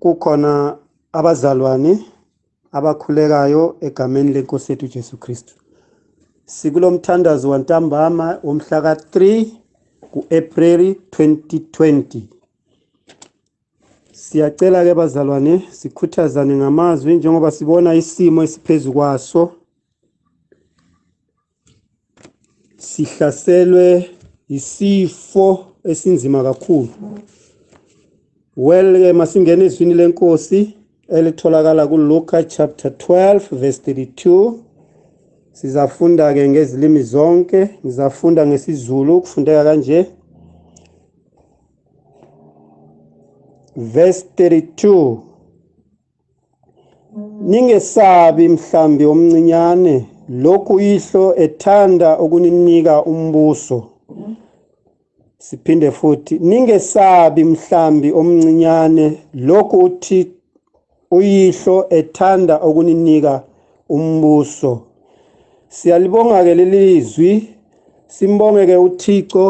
kukhona abazalwane abakhulekayo egameni lenkosi yethu Jesu Kristu sikulo mthandazo wantambama womhla ka-3 ku-April 2020 siyacela ke bazalwane sikhuthazane ngamazwi njengoba sibona isimo esiphezulu kwaso sihlaselwe isifo esinzima kakhulu well ke masingena ezwini lenkosi elitholakala kuLuka chapter 12 verse 32 sizafunda ke ngezilimi zonke ngizafunda ngesiZulu kufundeka kanje verse 32 Ningesabi mhlambi omncinyane lokhu ihlo ethanda ukuninika umbuso siphinde futhi ningesabi mhlambi omncinyane lokhu uthi uyihlo ethanda ukuninika umbuso siyalibonga ke lelizwi simbongeke uThixo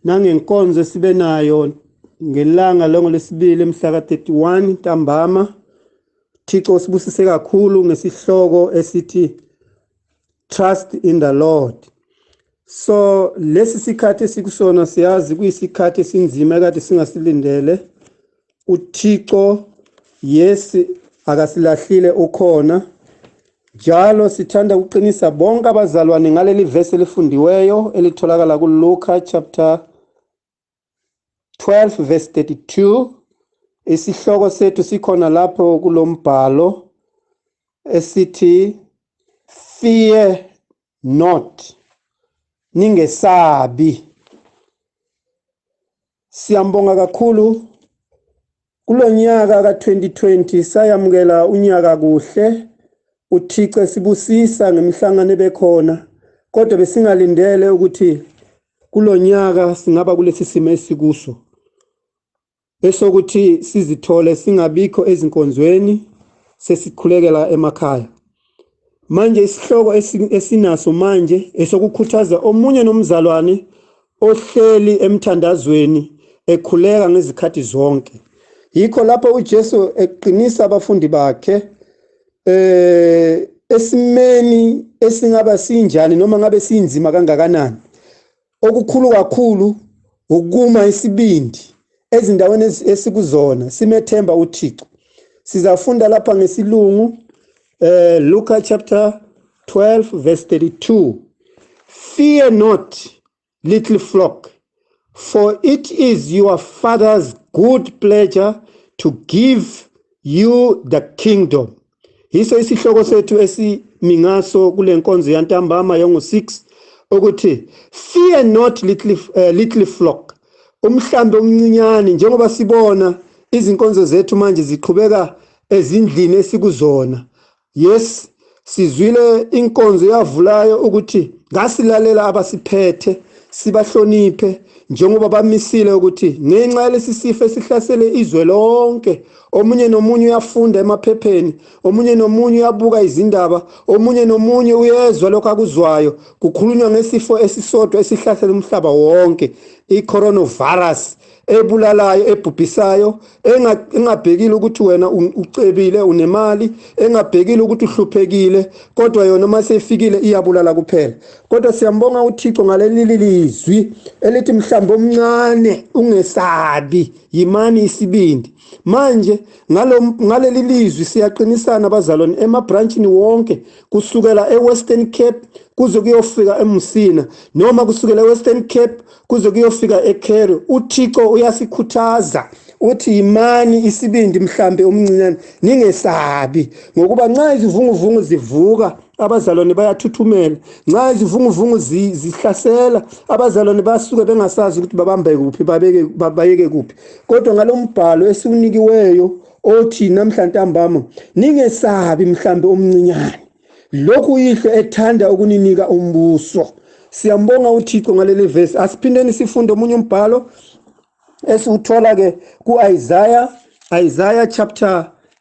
nangenkonzo esibe nayo ngelanga longolesibili emhla ka-31 ntambama Thixo usibusise kakhulu ngesihloko esithi Trust in the Lord so lesi sikhathi esikusona siyazi kuyisikhathi esinzima ekade singasilindele uThixo yes akasilahlile ukhona njalo sithanda ukuqinisa bonke abazalwane ngaleli verse elifundiweyo elitholakala kuLuka chapter 12 verse 32 isihloko sethu sikhona lapho kulombhalo esithi fear not ningesabi Siyambonga kakhulu kulonyaka ka2020 sayamukela unyaka kuhle uThixo sibusisa ngemihlangano ebekhona kodwa besingalindele ukuthi kulonyaka singaba kulesi simo esikuso esokuthi sizithole singabikho ezinkonzweni sesikhulekela emakhaya Manje isihloko esinaso manje esokukhuthaza omunye nomzalwane ohleli emthandazweni ekhuleka ngezikhathi zonke. Yikho lapho uJesu eqinisa abafundi bakhe eh esimeni esingaba sinjani noma ngabe sinzima kangakanani. Okukhulu kakhulu ukuma isibindi ezindaweni esikuzona simethemba uThixo. Sizafunda lapha ngesilungu eh Luka chapter 12 verse 32. Fear not little flock for it is your father's good pleasure to give you the kingdom. yiso isihloko sethu esimingaso kule nkonzo yantambama yongo-6 ukuthi fear not little, uh, little flock umhlambi omncinyane njengoba sibona izinkonzo zethu manje ziqhubeka ezindlini esikuzona yes sizwile inkonzo yavulayo ukuthi ngasilalela abasiphethe sibahloniphe njengoba bamisile ukuthi ngenxa yalesi sifo esihlasele izwe lonke omunye nomunye uyafunda emaphepheni omunye nomunye uyabuka izindaba omunye nomunye uyezwa lokho akuzwayo kukhulunywa ngesifo esisodwa esihlasela umhlaba wonke i-coronavirus ebulalayo ebhubhisayo engabhekile ukuthi wena ucebile unemali engabhekile ukuthi uhluphekile kodwa yona uma seyifikile iyabulala kuphela kodwa siyambonga uthixo ngaleli lizwi elithi mhlawumbe omncane ungesabi Yimani isibindi. Manje ngalo ngaleli lizwi siyaqinisana abazalwane emabranchini wonke kusukela eWestern Cape kuze kuyofika eMusina noma kusukela eWestern Cape kuze kuyofika eCairo. UThixo uyasikhuthaza uthi yimani isibindi mhlambe omncinyane ningesabi ngokuba nxa izivunguvungu zivuka abazalwane bayathuthumela nxa izivunguvungu zihlasela abazalwane basuke bengasazi ukuthi babambe kuphi babeke bayeke kuphi kodwa ngalombhalo esiwunikiweyo othi namhla ntambama ningesabi mhlambe omncinyane lokhu yihlo ethanda ukuninika umbuso siyambonga uThixo ngaleli verse asiphindeni sifunde omunye umbhalo esiwuthola ke kuIsaiah Isaiah chapter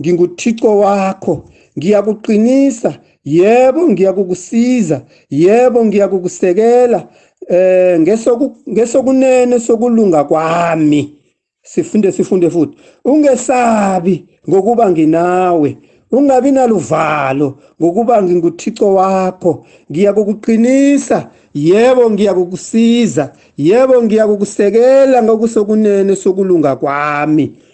NginguThixo wakho, ngiyakuqinisa, yebo ngiyakukusiza, yebo ngiyakukusekela eh ngesoku ngesokunene sokulunga kwami. Sifunde sifunde futhi. Ungesabi ngokuba nginawe. Ungabi naluvalo ngokuba nginguThixo wakho. Ngiyakukuqinisa, yebo ngiyakukusiza, yebo ngiyakukusekela ngokusokunene sokulunga kwami.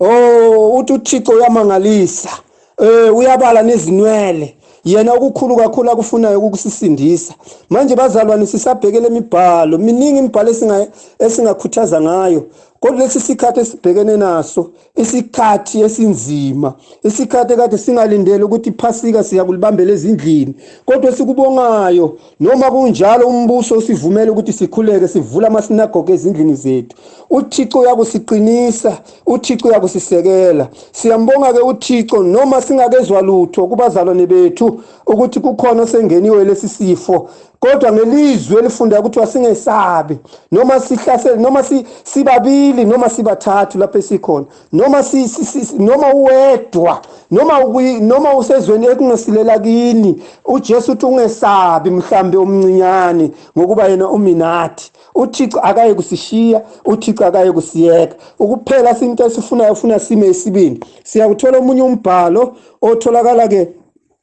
oh uthi uThixo uyamangalisa eh uyabala nezinwele yena okukhulu kakhulu akufunayo ukukusisindisa manje bazalwane sisabhekele imibhalo miningi imibhalo esinga esingakhuthaza ngayo kodwa lesi sikhathi esibhekene naso isikhathi esinzima isikhathi kade singalindele ukuthi iphasika siyakulibambela ezindlini kodwa sikubongayo Noma kunjalo umbuso usivumela ukuthi sikhuleke sivula amasinagoge ezindlini zethu. UThixo uyakusiqinisa, uThixo uyakusisekela. Siyambonga ke uThixo noma singakezwa lutho kubazalwane bethu ukuthi kukhona osengeniwe lesi sifo. Kodwa ngelizwi elifunda ukuthi wasingesabi noma sihlaselwe noma sibabili noma sibathathu lapho esikhona. noma si, si, si, noma uwedwa noma ukwi noma usezweni ekungesilela kini uJesu uthi ungesabi mhlambe umncinyane ngokuba yena uminathi uThixo akaye kusishiya uThixo akaye kusiyeka ukuphela sinto esifunayo ufuna sime isibindi siyakuthola omunye umbhalo otholakala ke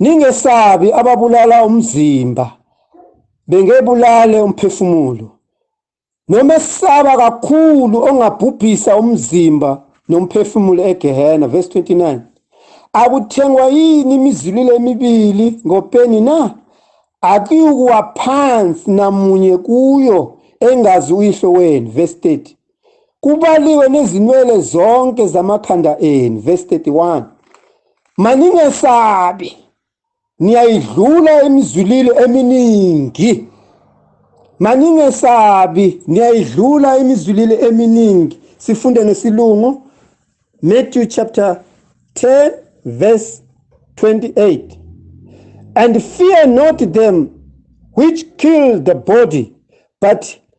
Ningesabi ababulala umzimba bengebulale umphefumulo noma esaba kakhulu ongabhubhisa umzimba nomphefumulo egehena verse 29 akuthengwa yini imizililo emibili ngopeni na akuyukuwa phansi namunye kuyo engazi uyihlo wenu verse 30 kubaliwe nezinwele zonke zamakhanda enu verse 31 maningesabi niyayidlula imizulile eminingi maningesabi niyayidlula imizulile eminingi sifunde nesilungu Matthew chapter 10 verse 28 and fear not them which kill the body but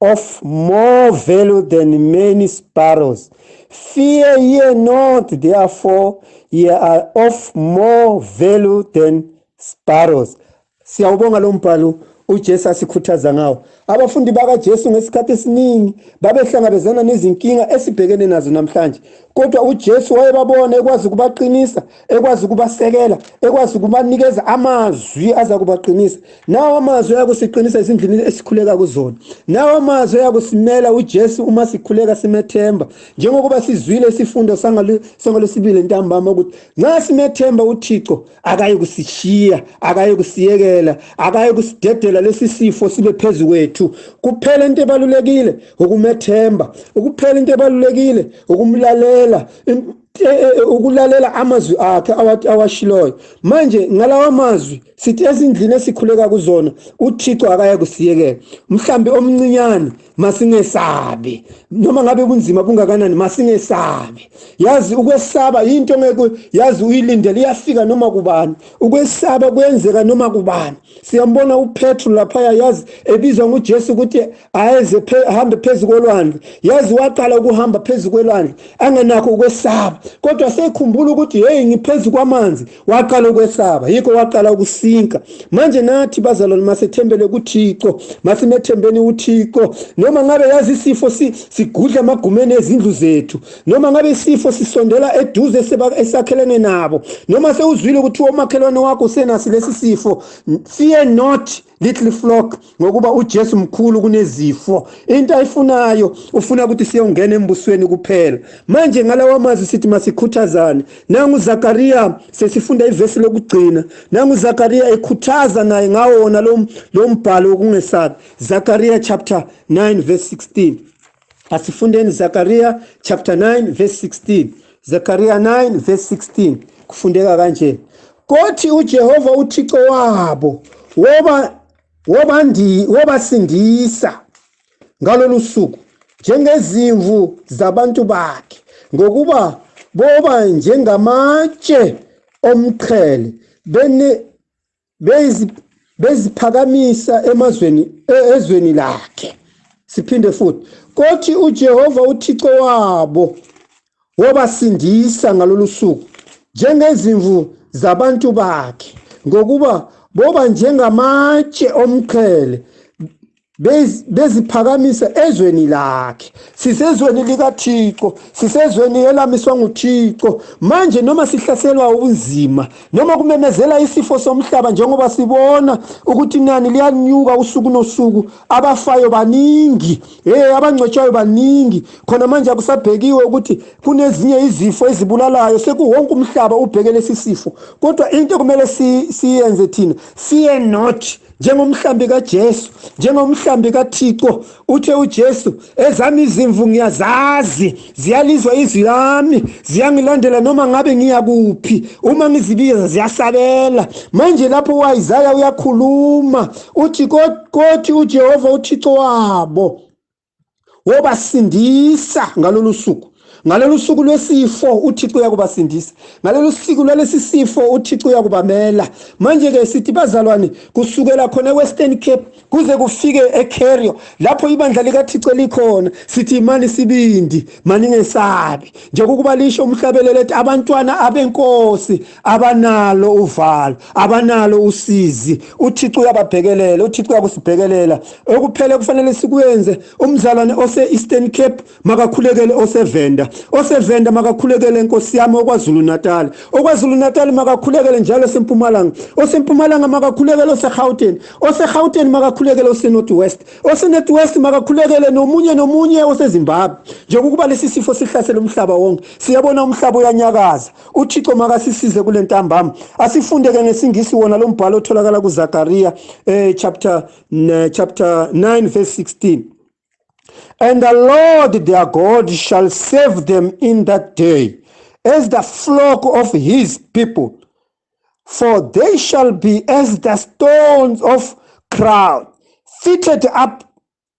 of more value than many sparrows. Fear ye not, therefore ye are of more value than sparrows. Siyawubonga lo mbhalo uJesu asikhuthaza ngawo. Abafundi bakaJesu ngesikhathi esiningi babehlangabezana nezinkinga esibhekene nazo namhlanje. Kodwa uJesu wayebabona ekwazi ukubaqinisa ekwazi ukubasekela ekwazi ukubanikeza amazwi aza kubaqinisa nawo amazwi ayakusiqinisa ezindlini esikhuleka kuzona nawo amazwi ayakusimela uJesu uma sikhuleka simethemba njengokuba sizwile isifundo sangalesibili ntambama ukuthi nxa simethemba uThixo akaye kusishiya akaye kusiyekela akaye kusidedela lesi sifo sibe phezu kwethu kuphela into ebalulekile ukumethemba ukuphela into ebalulekile ukumlalela Eh, eh, eh, ukulalela amazwi akhe awathi awashiloyo manje ngalawa mazwi sithi ezindlini esikhuleka kuzona uThixo akaya kusiyekela mhlambi omncinyane masingesabi noma ngabe kunzima bungakanani masingesabi yazi ukwesaba into ngeke yazi uyilindele iyafika noma kubani ukwesaba kuyenzeka noma kubani siyambona uPetru laphaya yazi ebizwa nguJesu ukuthi ayeze phe, hambe phezulu kolwandle yazi waqala ukuhamba phezulu kwelwandle angenakho ukwesaba kodwa sekhumbula ukuthi hey ngiphezulu kwamanzi waqala ukwesaba yikho waqala ukusinka manje nathi bazalwane masethembele kuThixo masimethembeni uThixo noma ngabe yazi isifo sigudla amagumeni ezindlu zethu noma ngabe isifo sisondela eduze esakhelene nabo noma sewuzwile ukuthi omakhelwane wakho usenasi lesi sifo fear not little flock ngokuba uJesu mkhulu kunezifo into ayifunayo ufuna ukuthi siyongena embusweni kuphela manje ngalawa mazwi sithi masikhuthazane nangu Zakaria sesifunda ivesi lokugcina nangu Zakaria ekhuthaza naye ngawo wona lo mbhalo wokungesabi Zakaria chapter 9 verse 16 Asifundeni Zakaria chapter 9 verse 16. Zakaria 9 verse 16 kufundeka kanje. Kothi uJehova uThixo wabo woba wobandi wobasindisa ngalolu suku njengezimvu zabantu bakhe ngokuba boba njengamatshe omqhele bene beziphakamisa emazweni e, ezweni lakhe siphinde futhi kothi uJehova uThixo wabo wabasindisa ngalolu suku njengezimvu zabantu bakhe ngokuba boba njengamatshe omqhele beziphakamise ezweni lakhe sisezweni likaThixo sisezweni elamiswa nguThixo manje noma sihlaselwa ubunzima noma kumemezela isifo somhlaba njengoba sibona ukuthi nani liyanyuka usuku nosuku abafayo baningi hey abangcwetshayo baningi khona manje akusabhekiwe ukuthi kunezinye izifo ezibulalayo sekuwonke umhlaba ubheke lesi sifo kodwa into kumele siyenze thina siye not njengomhlambi kaJesu njengomhlambi kaThixo uthe uJesu ezami izimvu ngiyazazi ziyalizwa izwi lami ziyangilandela noma ngabe ngiya kuphi uma ngizibiza ziyasabela manje lapho uIsaya uyakhuluma uthi kothi uJehova uThixo wabo wobasindisa ngalolu suku ngalolu suku lwesifo uthixo uyakubasindisa ngalolu suku lwalesi sifo uthixo uyakubamela manje-ke sithi bazalwane kusukela khona e-western cape kuze kufike ecarrio lapho ibandla likathixo likhona sithi imani sibindi maningesabi njengokuba lisho umhlabelelo ethi abantwana abenkosi abanalo uvalo abanalo usizi uThixo uyababhekelela uThixo uyakusibhekelela okuphela kufanele sikwenze umzalwane ose Eastern Cape makakhulekele osevenda osevenda makakhulekele inkosi yami okwazulu Natal okwazulu Natal makakhulekele njalo sempumalanga osempumalanga makakhulekele oseGauteng oseGauteng makakhulekele oseNorth West oseNorth West makakhulekele nomunye nomunye oseZimbabwe njengokuba lesi sifo sihlasela umhlaba wonke siyabona umhlaba uyanyakaza uthixo makasisize kule ntambama asifunde ke ngesingisi wona lo mbhalo otholakala kuzakariya eh, chapter, eh, chapter 9 verse 16 and the lord their god shall save them in that day as the flock of his people for they shall be as the stones of crowd fitted up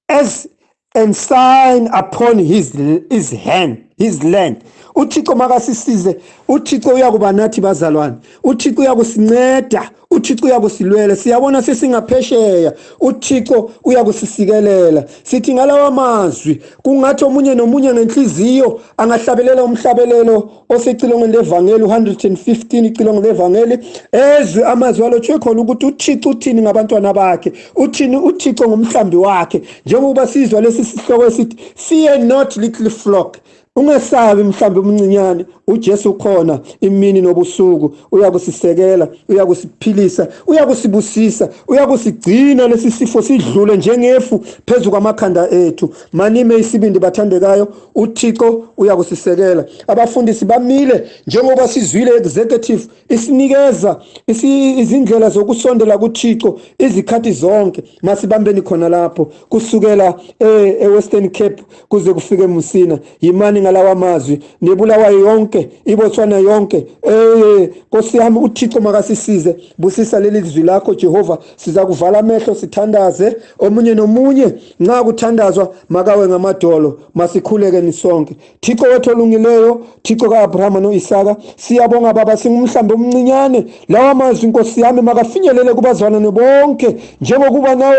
as and sign upon his his hand his land uthixo makasisize uthixo uyakuba nathi bazalwane uthixo uyakusinceda uthixo uyakusilwela siyabona sesingaphesheya uthixo uyakusisikelela sithi ngalawa mazwi kungathi omunye nomunye ngenhliziyo angahlabelela umhlabelelo osecilongweni levangeli u-115 icilongo levangeli ezwe amazwi alotshwe khona ukuthi uthixo uthini ngabantwana bakhe uthini uthixo ngomhlambi wakhe njengokuba sizwa lesi sihloko esithi fear not little flock ungesabi mhlambi umncinyane uJesu khona imini nobusuku uyakusisekela uyakusiphilisa uyakusibusisa uyakusigcina lesi sifo sidlule njengefu phezulu kwamakhanda ethu manime isibindi bathandekayo uThixo uyakusisekela abafundisi bamile njengoba sizwile executive isinikeza izindlela zokusondela kuThixo izikhathi zonke masibambeni khona lapho kusukela eh, eWestern Cape kuze kufike Musina yimani ngalawa mazwi nebulawa yonke iBotswana yonke eh Nkosi yami uThixo makasisize busisa leli zwi lakho Jehova sizakuvala amehlo sithandaze omunye nomunye nxa kuthandazwa makawe ngamadolo masikhuleke nisonke thixo wethu olungileyo thixo ka-abrahama no-isaka siyabonga baba singumhlambi omncinyane lawa mazwi nkosi yami makafinyelele kubazalwane bonke njengokuba nawe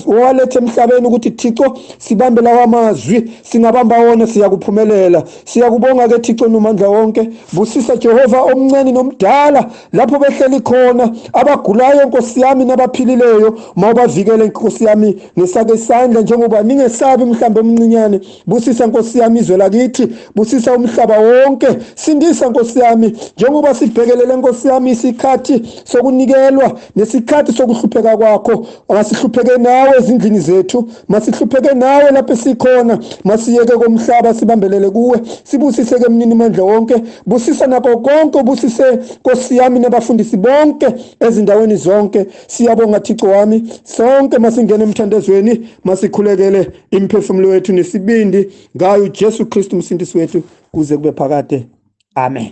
owaletha emhlabeni ukuthi thixo sibambe lawa mazwi singabamba wona siyakuphumelela siyakubonga-ke thixo nomandla wonke busisa jehova omncane nomdala lapho behleli khona abagulayo nkosi yami nabaphilileyo mawubavikele nkosi yami ngisake isandla njengoba ningesabi mhlawumbe omncinyane busisa nkosi yami izwe lakithi busisa umhlaba wonke sindisa nkosi yami njengoba sibhekelele nkosi yami isikhathi sokunikelwa nesikhathi sokuhlupheka kwakho Asihlupheke nawe ezindlini zethu, masihlupheke nawe lapho sikhona, masiyeke komhlaba sibambelele kuwe, sibusise ke mnini mandla wonke, busisa nako konke ubusise Nkosi yami nabafundisi bonke ezindaweni zonke. Siyabonga Thixo wami, sonke masingene emthandazweni, masikhulekele imphefumulo wethu nesibindi ngayo Jesu Kristu umsindisi wethu kuze kube phakade. Amen.